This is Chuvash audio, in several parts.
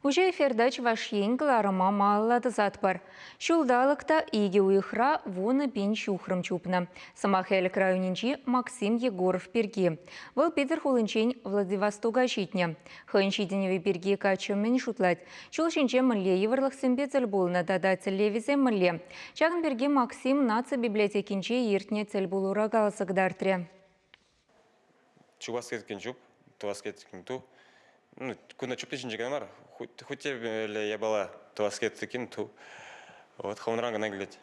Уҫӑ эфирта Чӑваш Ен кӑларӑма малалла тӑсатпӑр. Ҫулталӑк та икӗ уйӑхра вунӑ пин ҫухрӑм чупнӑ. Сӑмах Элӗк районӗнчи Максим Егоров пирки. Вӑл Питӗр хулинчен Владивостока ҫитнӗ. Хӑйӗн ҫитӗнӗвӗ пирки каччӑ мӗн шутлать? Ҫул ҫинче мӗнле йывӑрлӑхсемпе тӗл пулнӑ тата тӗллевӗсем мӗнле? Ҫакӑн пирки Максим наци библиотекинче иртнӗ тӗл пулура каласа кӑтартрӗ. чупас кеткен чуп тувас кеткен ту ну кунта чупти ҫинче кӑна мар хуть те япала тувас кеткен ту вот хӑвӑнран кӑна килет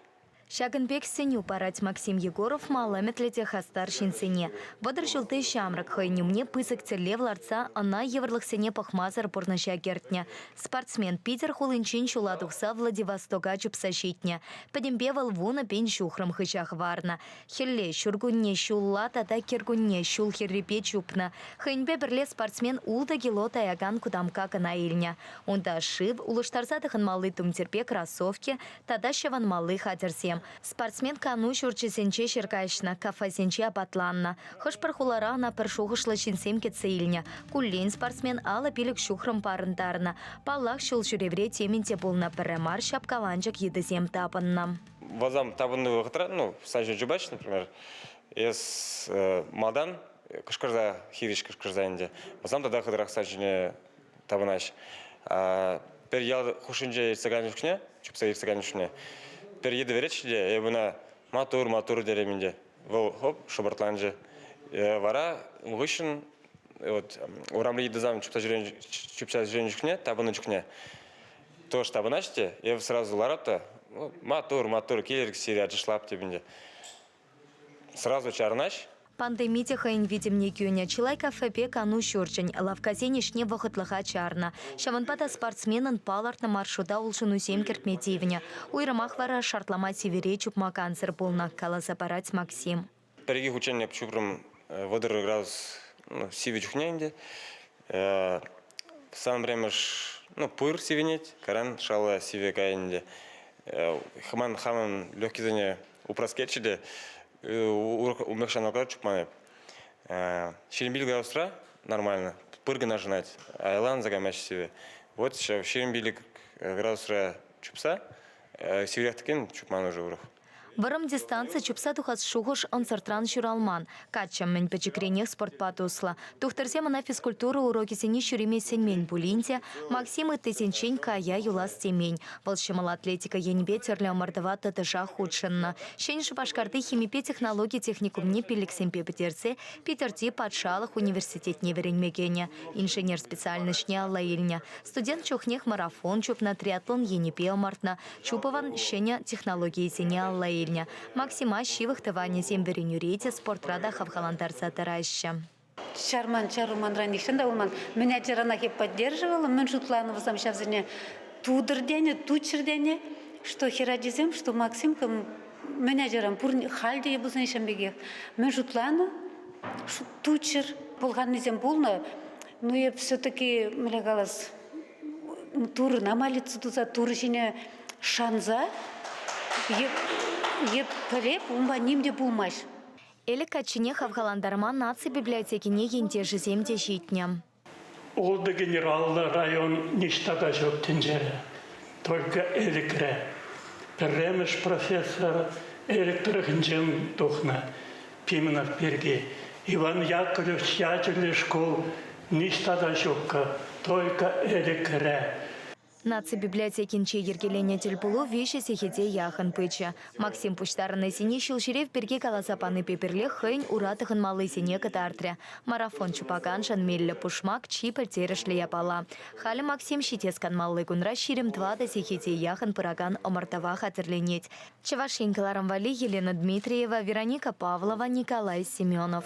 Ҫакӑн пек сӗнӳ парать Максим Егоров мал ӗмӗтлӗ те хастар ҫынсене. Вӑтӑр ҫулти ҫамрӑк хӑйӗн умне пысӑк тӗллев лартса ӑна йывӑрлӑхсене пӑхмасӑр пурнӑҫа кӗртнӗ. Спортсмен Питер хулинчен ҫула тухса Владивостока чупса ҫитнӗ. Пӗтӗмпе вӑл вунӑ пин ҫухрӑм хыҫа хӑварнӑ. Хӗлле ҫуркунне ҫулла тата кӗркунне ҫул хӗррипе чупнӑ. Хӑйӗнпе пӗрле спортсмен ултӑ кило таякан кутамкка кӑна илнӗ. Унта шыв, улӑштарса тӑхӑнмалли тумтирпе кроссовки тата ҫӑвӑнмалли хатӗрсем. Спортсмен кану ҫурчӗсенче ҫӗр каҫнӑ, кафесенче апатланнӑ. Хӑш-пӗр хулара ӑна пӗр шухӑшлӑ ҫынсем кӗтсе илнӗ. Куллен спортсмен алӑ-пилӗк ҫухрӑм парӑнтарнӑ. Паллах, ҫул ҫӳревре темӗн те пулнӑ, пӗрре мар ҫапкаланчӑк йытӑсем тапӑннӑ. Базам тапӑннӑ вӑхӑтра, ну, сан ҫул чупаҫҫӗ, например, эс малтан кӑшкӑрса, хирӗҫ кӑшкӑрса ӗнтӗ, базам тата хытӑрах сан ҫине тапӑнаҫ. Пӗр ял хушшинче иртсе кайнӑ чухне, чупса иртсе кайнӑ чухне, пӗр йытӑ вереччӗ те эпӗ ӑна маттур, маттур терем ӗнтӗ. Вӑл хоп шӑпӑртланчӗ. Вара ун хыҫҫӑн вот урамри йытӑсам чупса ҫӳренӗ чупса ҫӳренӗ чухне, тапӑннӑ чухне Тоже тапӑнаҫҫӗ те, эпӗ сразу ларат та, «Ну, маттур, маттур, килӗр сире ачашлап тепӗнче. Сразу чарӑнаҫ. Пандеми те хӑйӗн витӗмне кӳнӗ. Чылай кафепе кану ҫурчӗн, лавккасен ӗҫне вӑхӑтлӑха чарнӑ. Ҫавӑнпа та спортсменӑн палӑртнӑ маршрута улшӑнусем кӗртме тивнӗ. Уйрӑмах вара шартлама тивӗре чупма кансӗр пулнӑ, каласа парать Максим. Пӗр-икӗ хутчен эп ҫупрӑм вӑтӑр градус ну, сивӗ чухне ӗнтӗ. Сан пӗрремӗш ну, пыр сивӗнет, кайран шалла сивӗ кай ӗнтӗ. Хӑман хамӑн легкисене упраскерчӗ те урӑх умлӑх ҫаналка чупман эп. Ҫирӗм пилӗк градусра нормально, пыр кӑна шӑнать, айланса каймасть сивӗ. Вот ҫав ҫирӗм пилӗк градусра чупса сивӗрех текен чупман уже урӑх. Вӑрӑм дистанци чупса тухас шухӑш ӑнсӑртран ҫуралман. Каччӑ мӗн пӗчӗкренех спортпа туслӑ. Тухтӑрсем ӑна физкультура урокӗсене ҫӳреме сӗнмен пулин те, Максим ыттисенчен кая юлас темен. Вӑл ҫӑмӑл атлетика енӗпе тӗрлӗ ӑмӑртӑва тӑтӑшах хутшӑннӑ. Ҫӗнӗ Шупашкарти химипе технологи техникумне пиллӗксемпе пӗтерсе Питӗрти патшалӑх университетне вӗренме кӗнӗ, инженер специальноҫне алла илнӗ. Студент чухнех марафон чупнӑ, триатлон енӗпе ӑмӑртнӑ, Чуповӑн ҫӗнӗ технологийӗсене алла илнӗ. Максима ҫывӑх тӑванӗсем вӗренӳре те, спортра та хавхалантарса тӑраҫҫӗ. Чарман чарманра нихҫан та пулман. Мӗн ачаранах эп поддерживала, мӗн шутланӑ вӑсам ҫавсене тутӑр тенӗ, туччӑр тенӗ, что хӗр ачисем, что Максимка мӗн ачаран пурне, халь те пулсан ҫын пекех. Мӗн шутланӑ, туччӑр пӑлханнисем пулнӑ. Ну эп все-таки, мӗне калас, турӑна молитва туса турӑ ҫине шанса еплерех унпа ним те пулмасть. Ӗлӗк каччине хавхалантарма наци библиотекине ентешӗсем те ҫитнӗ. Ултӑ генераллӑ район ниҫта та ҫук тӗнчере. Только Элӗкре. Пӗрремӗш профессор Элӗк тӑрӑхӗнчен тухнӑ. Пименов пирки Иван Яковлевич ячӗллӗ шкул ниҫта та ҫуккӑ, только Эрӗкре. Наци библиотекинче йӗркеленӗ тӗлпулу виҫӗ сехете яхӑн пычӗ. Максим пуҫтарӑннисене ҫулҫӳрев пирки каласа панипе пӗрлех хӑйӗн ура тӑхӑнмаллисене кӑтартрӗ. Марафон чупаканшӑн меллӗ пушмак, чи пӗлтерӗшлӗ япала. Халӗ Максим ҫитес канмалли кунра ҫирӗм тӑватӑ сехете яхӑн пыракан ӑмӑртӑва хатӗрленет. Чӑваш Ен кӑларӑм валли Елена Дмитриева, Вероника Павлова, Николай Семенов.